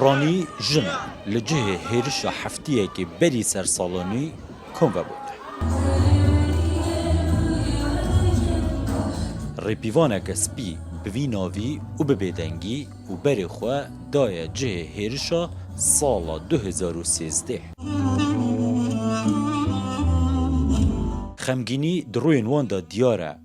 Piranî jin e. Li cihê hêrişa heftiyekê berî ser salonî kom vebût. Rêpîvaneke spî bi vî navî û bi bêdengî û berê xwe daye cihê hêrişa sala du hezar û sêzdeh. Xemgînî di rûyên wan de diyar e.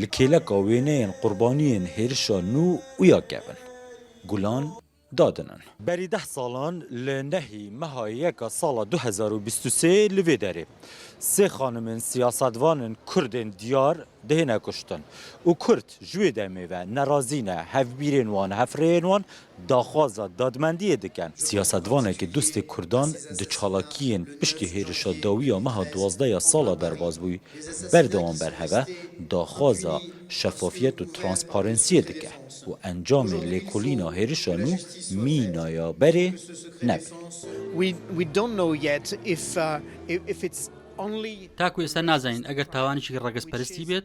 Li kêleka wêneyên qurbaniyên hêrişa nû û ya kevin, gulan dadin in. Berî deh salan li nehî meha yeka sala du hezar û bîst û sê li vê derê sê xanimên siyasetvanên kurdên diyar dihêne kuştin û kurd ji wê demê ve nerazî ne, hevbîrên wan, hefreyên wan daxwaza dadmendiyê dikin. Siyasetvanekî dostê Kurdan di çalakiyên piştî hêrişa dawî ya meha duwazdeh ya sala derbas bû, berdewam berheve daxwaza şefafiyet û transparensiyê dike û encamê lêkolîna hêrişa nû mîna ya berê nebe. Ta ku êser nazanin eger tawanekî regezperistî bêt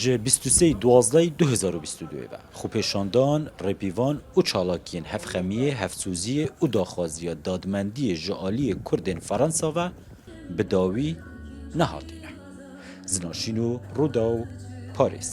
Ji bîst û sê Duwazdehê du hezar û bîst û du ve xwepêşandan, rêpîvan û çalakiyên hevxemiyê, hevsoziyê û daxwaziya dadmendiyê ji aliyê Kurdên Fransa ve bi dawî nehatîne. Zinaşîn û Rûdaw, Parîs.